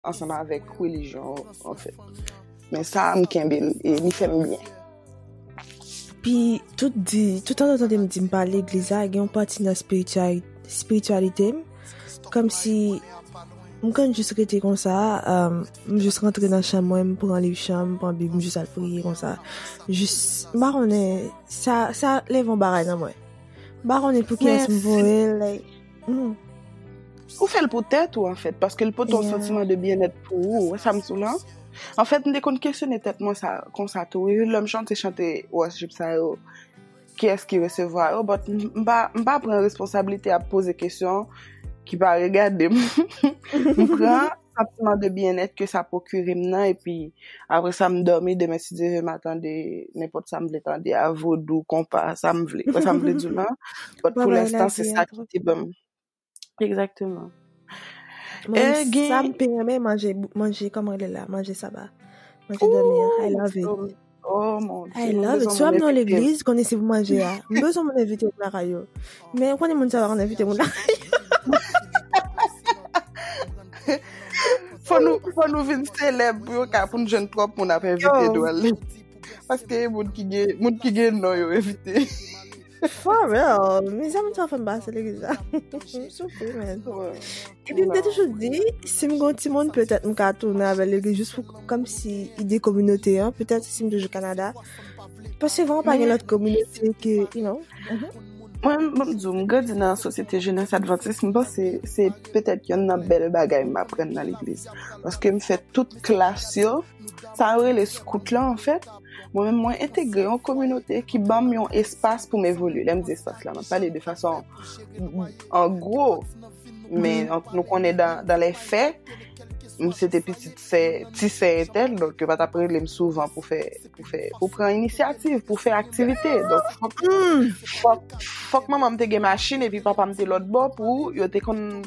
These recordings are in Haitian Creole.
ansanm avèk relijyon an fèt. Men sa m kenbe l e li fè m byen. Pi tout di, tout an tande m di m pa legliz la, gen yon pati nan spirityalite m, kòm si m konn jis rete konsa, um, m jis rantre nan chanm mwen, m pran liv chanm, m pran bib, m jis al priye konsa. Jis, m pa konnen, sa, sa leve yon bagay nan mwen. M pa konnen pou kiyès m voye l, like. Hmm. Ou fè l pou tèt ou an fèt, paske l pote yon santiman de byennèt pou ou, wè sa m sou lan? An fèt, m te konn kesyone tèt mwen sa, kon sa tou, e lè m chante chante wòs jip sa yo, ki es ki resevwa yo, bòt m pa pran responsabilite ap poze kesyon ki pa regade m. M pran. Santiman de byennèt ke sa pwokire m nan epi apre sa m dòmi demen si Dye ve m a tande nenpòt sa m vle tande a, vodou, konpa, sa m vle. Wè sa m vle di w la? Bòt pou lenstan se sa ki te ban m. Egzakteman. E gen. Sa m pi renmen manje, manje kòman rele l la? Manje saba. Manje dòmi an. I love it. Oh mon dieu. I love it. So ap nan l'église, konnen se pou manje a. M bezon moun invite moun lakay yo. Men konnen moun sa va konnen invite moun lakay yo. Fò nou fò nou vin selèb pou yo ka pou nou jwenn trop moun ap invite dwal. Paske moun ki gen moun ki gen non yo invite. For real, mizè mwen ta fèm base lè gisa. Mwen sou kou men. E pi mwen te toujou di, si mwen gwen ti moun, petèt mwen ka tounen avè lè gisa, jist pou kòm si ide kominote an, petèt si mwen toujou Kanada. Pase vè an pa gen lòt kominote ke, you know. Mwen mwen di, mwen gwen di nan sosyete jenès advantis, mwen panse se petèt yon nan bèl bagay mwen apren nan lè gisa. Paske mwen fè tout klas yo, Sa yo rele scout lan anfèt, mwen menm mwen entegre yon kominote ki ban m yon espas pou m evolye. Lè m di espas la, m ap pale de fason an gwo, men mm-hmm. nou konnen dan lè fè, m se te pitit sè, ti sè entèl, donk yo pa ta prele m souvan pou fè, pou fè, pou pran inisyativ, pou fè aktivite. Donk fòk, mm. fòk, fòk manman m te gen machin epi papa m te lòt bò pou yo te konn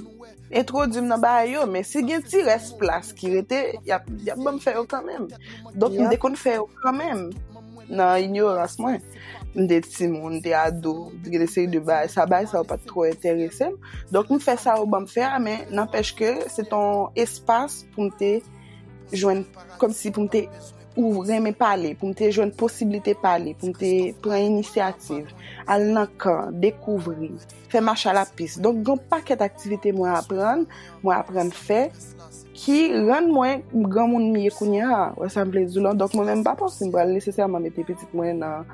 Entwodui m nan bagay yo, men si gen ti rès plas ki rete, y ap ban m fè yo kanmenm. Donk m te konn fè yo kanmenm nan inyorans mwen. M te timoun, m te ado, m te gen de seri de bagay. Sa bagay sa yo pat twò enterese m. Donk m fè sa yo ban m fè a, men nanpèch ke se t yon espas pou m te jwenn, kòm si pou m te ou renmen pale, pou m te jwenn posiblite pale, pou m te pran inisyativ, al nan kan, dekouvri. fè mach a la pis. Donk gen yon pakèt aktivite mwen aprann, mwen aprann fè, ki rann mwen granmoun m ye kounye a. Ou wè sa m vle di w lan? Donk mwen menm m pa panse m pral nesesèman mete pitit mwen nan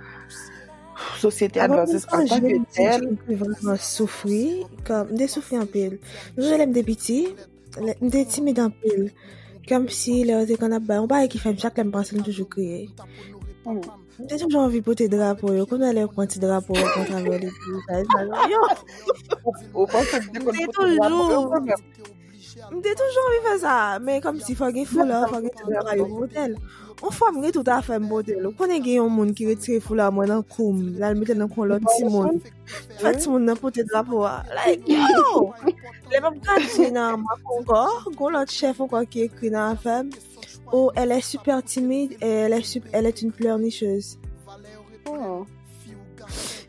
sosyete advantis an tanke tèl. Mwen te soufri anpil. Mwen te soufri anpil. Mwen te soufri anpil. M te timid anpil. Kèm si lè yo te konn ap bay. Yon bagay ki fèm chak lèm panse m toujou kriye. M te toujou anvi pote drapo yo. Kounè lè yo pran ti drapo yo kontra vè li. Yo! Ou panse m te konn pote drapo yo konn mèm. M te toujou anvi fè sa. Men kòm si fò gen foulè, fò gen tout bagay yo pote l. Yon fwa m gen tout afè m pote l. Ou konnen gen yon moun ki retire foulè mwen nan kou m. Lal mete l nan kou yon lòt ti moun. Fè ti moun nan pote drapo a. Like, yo! Lè map gade nan map ankò, goun lòt chèf ankò ki ekri nan afèm. Ou, elle est super timide et elle est, sup- elle est une pleurnicheuse. Oh.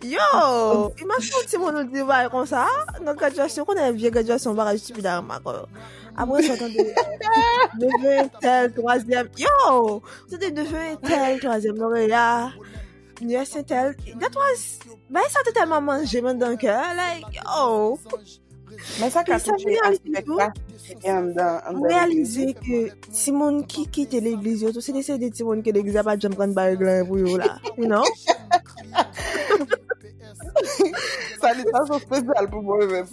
Yo! Imajine ti moun nou di vay kon sa, nan graduasyon, konnen vye graduasyon bagay stupid a remak yo. Apre sa tande, neveu tel, troisième, yo! Tande neveu tel, troisième lauréat, Yes and tell That was Bay sa te telman manje mwen dan kè Like oh Men sa ka touche aspek la Mwen realize ke Ti moun ki kite legliz yo tou Se de se de ti moun ke legliz apat jem pran bay glan pou yo la You know Sa li ta sou spesyal pou mwen men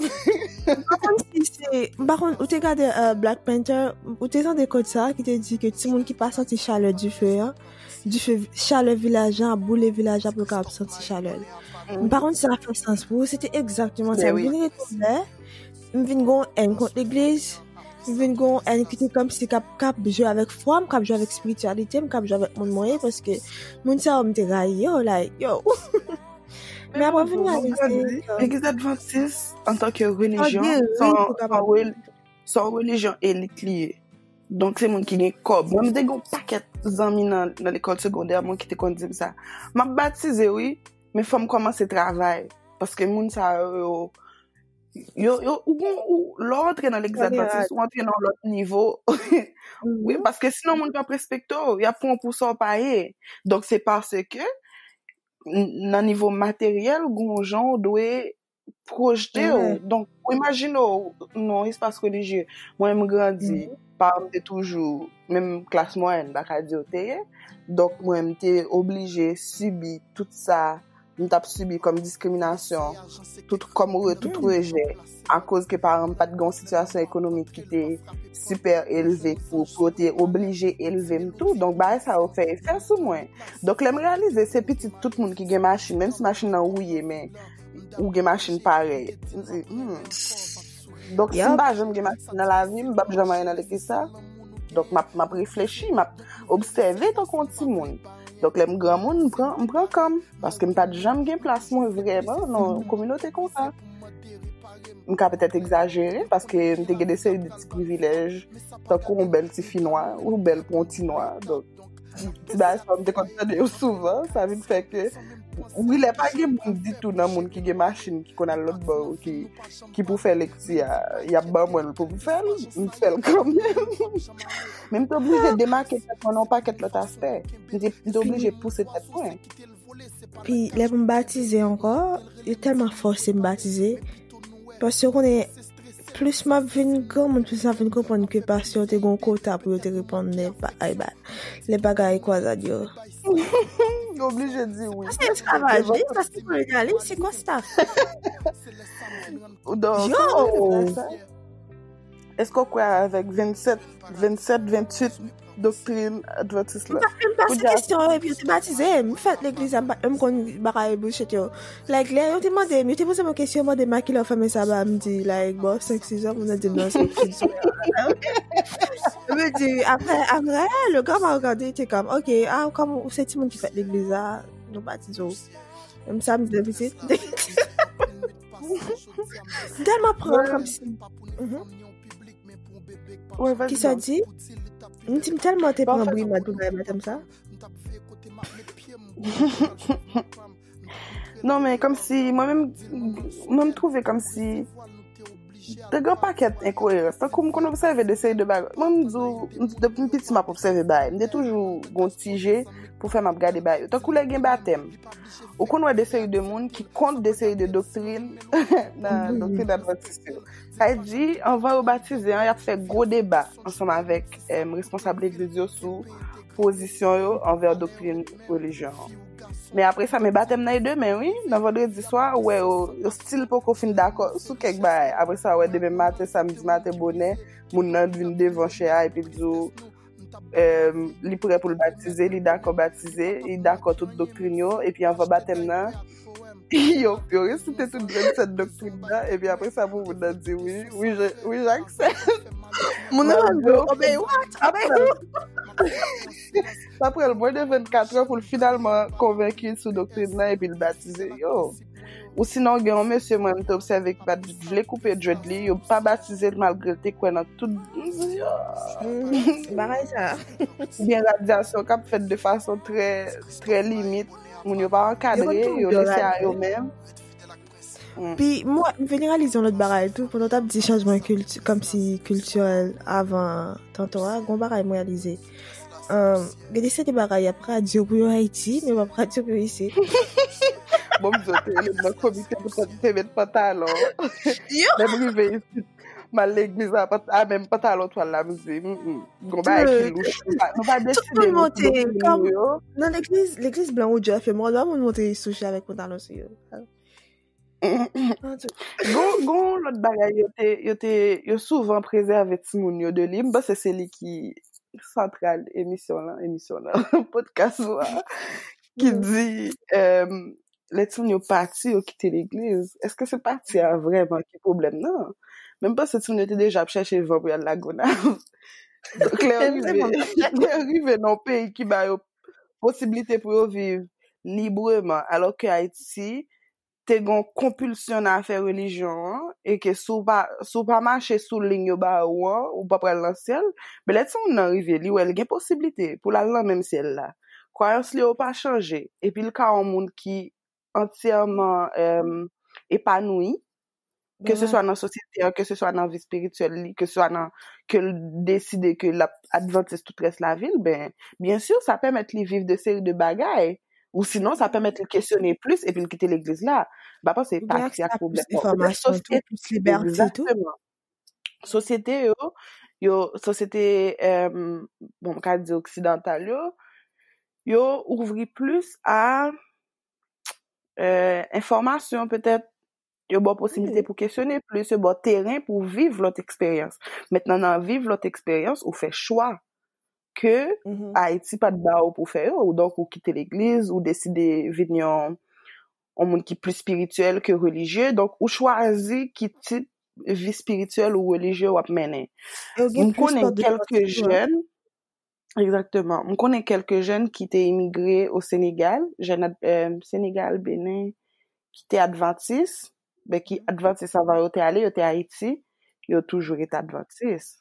Bakon si se Bakon ou te gade euh, Black Panther Ou te zan de kod sa ki te di ke ti moun ki pa santi chale di fe an Dife chalè vilaj lan ap boule vilaj la pou yo ka ap santi chalè l. M pa konn si sa fè sans pou ou, se te egzakteman sa. M vin rete lè, m vin gon èn kont legliz, m vin gon èn ki te kòm si kap kap jwe avèk fwa m, kap jwe avèk espirityalite m, kap jwe avèk moun mwen ye, paske moun sa yo m te rayi yo, like, yo. Men apre m vin reyalize. Legliz advantis, antanke relijyon, son relijyon elit li ye. Donk se moun ki gen kòb. Mwen mwen te gen pakèt zanmi nan lekòl segondè mwen ki te konn di m sa. M ap batize wi, men fò m kòmanse travay. Paske moun sa yo, yo, yo, ou kon, ou, lò ou antre nan legliz advantis, ou antre nan yon lòt nivo. Wi, paske sinon moun pa p respekte w, y ap pran w pou sa w pa ye. Donk se paske, nan nivo materyèl, gen yon jan ou dwe projete ou, donk ou imajine ou nan yon espas relijye, mwen menm grandi, paran m te toujou, menm klas mwayèn m ta ka di yo te ye, donk mwen m te oblije sibi tout sa m tap sibi kòm diskriminasyon, tout kòm rejè, akoz ke paran m pat gen yon sitiyasyon ekonomik ki te sipè elve pou yo te oblije elve m tou, donk bagay sa yo fè efè sou mwen, donk lè m reyalize se pitit tout moun ki gen machin, menm si machin nan wouye men. ou gen machin pare. M di, hmm. Donk, si m pa jom gen machin nan la vi, m bap jom aye nan leke sa. Donk, m ap reflechi, m ap obseve ton kon ti moun. Donk, lè m gran moun, m pran kam. Paske m pat jom gen plas moun vreman nan kominote kon sa. M ka petet egzajere, paske m te gen de seri de ti privilej. Tankou m bel ti fi nwa, ou bel pon ti nwa. Donk. Ti bagay sa mte konn tande yo souvan, sa vin fè ke wi lè pa gen moun ditou nan moun ki gen machin ki konn al lòt bò ki ki pou fè lekti a, y ap ban mwen l pou m fè l, m fè l kanmenm. Men m te oblije demake tèt mwen nan yon pakèt lòt aspè. M te m te oblije pouse tèt mwen. Pi lè pou m batize ankò, yo tèlman fòse m batize, Paske yo konnen plis map vin gran moun plis map vin konprann ke pastè yo te gon kota pou yo te reponn lè bagay ba lè bagay kwazad yo. Yo oblije di wi. Se esklavaj li, sa se kolonyalis, se konsta. Yo! Eske w kwè avèk 27, 27, 28 doktrin advantis la? Mwen m pase kesyon yo epi yo te batize m. M fèt legliz la, m konn bagay bullshit yo. Like, lè yo te mande m, yo te poze m yon kesyon, yo mande m a ki lè w fèmen saba, m di, like, bò 5, 6 zè, moun nan di m nan se fil solè a. Yo me di, apre, apre, le gars m'a regardé, il était comme, ok, ah, comme ou se ti moun ki fèt legliz la, nou batize w. M sa m di depi ti. Dèl m apran kom si. Ki sa di? M di m telman te pran bri mad pou bay madanm sa. Non men kom si mwen menm mwen m twouve kom si Te gen yon pakèt enkoyerans. Tankou m konn obsève de seri de bagay. Mwen m di w, depi m piti m ap obsève bagay. M te toujou gen yon ti je pou fè m ap gade bagay yo. Tankou lè gen batèm. Ou konn wè de seri de moun ki kont de seri de doktrin nan doktrin advantis yo. Sa e di, anvan yo batize an, y ap fè gwo deba ansanm avèk responsab legliz yo sou pozisyon yo anvè doktrin relijyon an. Men apre sa, men batèm nan e demen wi. Nan vandredi swa, ou wè yo, yo stil poko fin dakò sou kèk bagay. Apre sa, ou wè demen maten, samdi maten bonè, moun nan vin devan chè a epi di ou em, li prè pou l batize, li dakò batize, li dakò tout doktrin yo, epi anvan batèm nan, yo, yo resite tout 27 doktrin nan, epi apre sa pou moun nan di wi, wi, je, wi, j'accepte. Moun nan Malgre ou obey what? Obey who? Sa pran l mwen de 24 an pou l finalman konvenki sou doktrin nan epi l batize. Yo! Ousinon gen yon mesye mwen m te obsève ki pa t vle koupe dread li, yo pa batize l malgre l te kwè nan tout bagay sa a. Oubyen radyasyon k ap fèt de fason trè, trè limit, moun yo pa ankadre, yo lese a yo menm. Mm. Pi, mwen, mwen veni realize yon lòt bagay tou, pou nou tap di chanjman kilti, kom si kiltirel avan tanto a, gon bagay mwen realize. Um, gade se de bagay ap radyo pou yo Haiti, men ap radyo pou yo isi. bon, mwen te le mwen komite pou te met pantalon. Yo! Mwen rive isi M al legliz la a menm pantalon twal la m di gon bagay ki louch. Nou pa deside nou ki lou pou nou yo. Nan legliz, legliz blan ou djè fè mò lò moun monte yi souche avèk pantalon sou yo. Gon lòt bagay yo te, yo te, yo souvan prezève ti moun yo de li. M panse se li ki santral emisyon lan, emisyon lan, podcast lan. Ki di, lè timoun yo pati, yo kite legliz, èske se pati a vrèman ki pwoblèm nan? Men m panse timoun yo te deja ap chèche van pou y al Lagonav. Donk lè yo rive, lè yo rive nan yon peyi ki ba yo posiblite pou yo viv libreman, alò ke Ayiti te gen yon konpilsyon nan afè relijyon an, e ke si w pa, si w pa mache sou liy yo ba ou an, ou pa pral nan syèl, men lè timoun nan rive, li wè l gen posiblite pou l al nan menm syèl la. Kwayans Leo pa chanje epi l ka yon moun ki antyèman epanouyi, keseswa nan sosyete a, keseswa nan vi espirityèl li, keseswa nan ke l deside ke l ap advantis tout rès lavi l, ben, byen si sa pèmèt li viv de seri de bagay, ou sinon sa pèmèt li kesyone plis epi l kite legliz la. M pa panse patri ak pwoblèm. Oubyen ak sa plis enfòmasyon tou, plis libète tou. Egzakteman. sosyete yo, yo, sosyete, emm, bon m ka di oksidantal yo, yo ouvri plis a, eee, enfòmasyon petèt, yo ba w posiblite pou kesyone plis, yo ba w teren pou viv lòt eksperyans. Mentnan nan viv lòt eksperyans, ou fè chwa ke Ayiti pa t ba w pou fè yo, donk ou kite legliz, ou deside vin yon, yon moun ki plis spirityèl ke relijye, donk ou chwazi ki tip vi spirityèl ou relijye wap mennen. M konnen kelke jèn, egzakteman, m konnen kelke jèn ki te imigre o Senegal, jèn Senegal, Benin, ki te advantis, beki advantis avan yo te ale, yo te Ayiti, yo toujou rete advantis.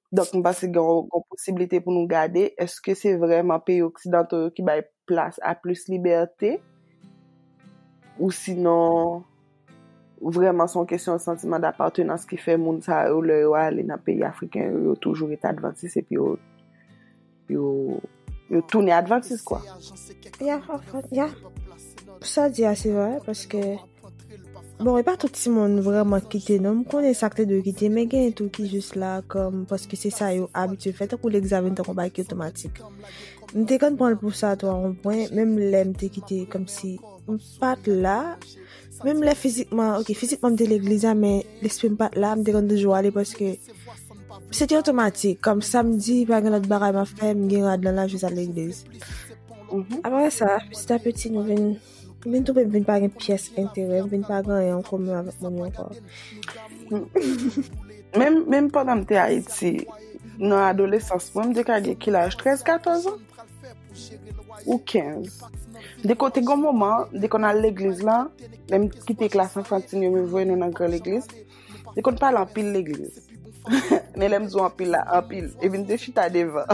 Donk m panse gen yon posiblite pou nou gade eske se vreman peyi oksidanto yo ki bay plas a plis libète ou sinon vreman son kesyon santiman dapatenans ki fè moun sa yo lè yo ale nan peyi afriken yo yo toujou rete advantis epi yo yo yo tounen advantis kwa. Ya, ya, sa di a se vre, paske, bon, e pa tout ti moun vreman kite non, m konen sa k te dwe kite, men gen tou ki jis la, kom, paske se sa yo abitye fè, tankou l'examen tankou bagay ki otomatik. M te konn pran l pou sa tou a yon pwen, menm lè m te kite, kom si, pat la, menm lè fizikman, ok, fizikman m te legliz la, men lespri m pat la, m te konn toujou ale paske se te otomatik, kom samdi pa gen lòt bagay ma fè, m gen rad lan la, jis al legliz. Mhm. Apre sa, piti a piti nou vin, vin toupe vin pa gen pyès enterè, vin pa gen yon komen avèk moun yon kò. Menm, menm pandan m te Ayiti, nan adolesans mwen, m te ka gen kilaj 13, 14 an. Ou 15. De kote gon moman, de kon al legliz la, lè m kite klas anfantin yo me voye nou nan gran legliz, de kon pale anpil legliz. Men lè m di anpil la, anpil, e vin te chita devan.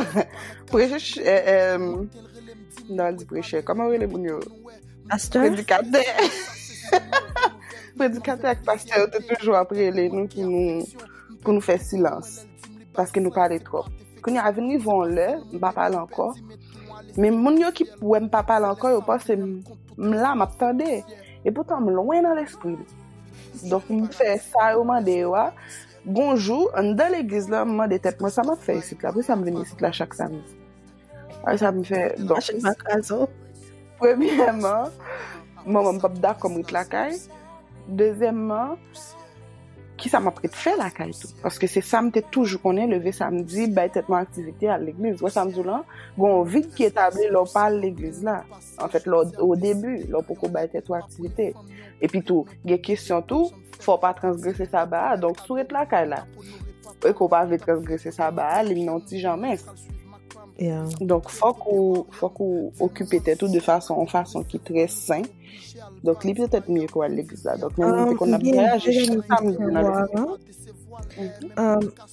Preche, e, e, nan di preche, kòman wè le moun yo? Pastè? Predikatè. Predikatè ak pastè yo te toujou ap rele nou ki nou, pou nou fè silans. paske nou pale trop. Kounye a vin rive yon lè, m pa pale ankò. Men moun yo ki wè m pa pale ankò, yo panse m la, m ap tande. E poutan m lwen nan lespri m. Donk m fè sa yo mande yo a. Gon jou, anndan legliz la, m mande tèt mwen sa m ap fè isit la? Poukisa m vin isit la chak samdi? Ay sa m fè. Bon. Ache m ak azo. Premyèman, manman m pap dakò m ret lakay. Dezyèmman, ki sa m ap ret fè lakay tou? Paske se sa m te toujou konnen, leve samdi, bay tèt mwen aktivite, al legliz. Wè sa m di w lan, gon yon vid ki etabli lè w pa al legliz la. Anfèt, lè w o debi, lè w poko bay tèt ou aktivite. Epitou, gen kesyon tou. Fò w pa transgrese saba a, donk si w ret lakay la, e ke w pa vle transgrese saba a, li mennen w ti jan mens. Donk fòk ou, fòk ou okipe tèt ou de fason, yon fason ki trè sen. Donk li petèt mye ke w al legliz la. Donk mwen mwen te konn ap vwayaje chak samdi nan legliz.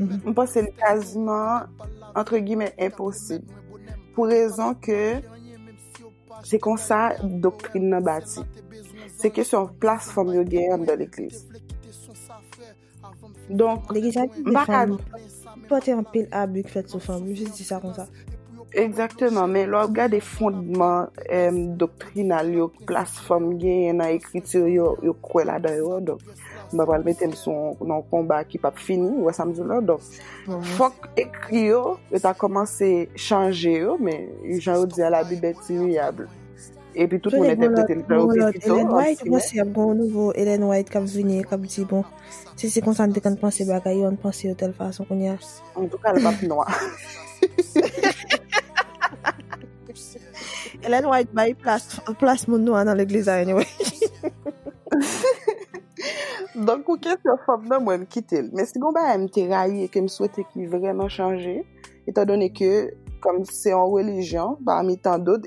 Mwen panse li kaziman, antre gimè, enposib. Pou rezon ke, se konsa doktrin nan bati. Se kesyon plas fanm yo gen an dan l'ekliz. Donk, mwen pa ka... Pote anpil abik fèt sou fanm, mwen jis di sa konsa. Egzakteman, men lè w ap gade fondman doktrinal yo plas fanm genyen nan ekriti yo, yo kwè ladan yo, donk m pa pral mete m sou yon konba ki pap fini, ou wè sa m di w la, donk fòk ekri yo, yo ta kòmanse chanje yo, men jan yo di a labib est imuyable. Epi tout moun entèprete l jan yo vle pito, an granmè. Elen White, ou panse ap gen yon nouvo Elen White k ap vini e k ap di bon, si se konsa n te konn panse bagay yo, an n panse yo tèl fason kounya? An tou ka l pap nwa. Ellen White bay plas moun nwa nan legliz a anyway. Donk pou kesyon fanm nan mwen m kite l. Men si gon bagay m te rayi e ke m swete ki vreman chanje, etan done ke kòm se yon relijyon pami tan dot,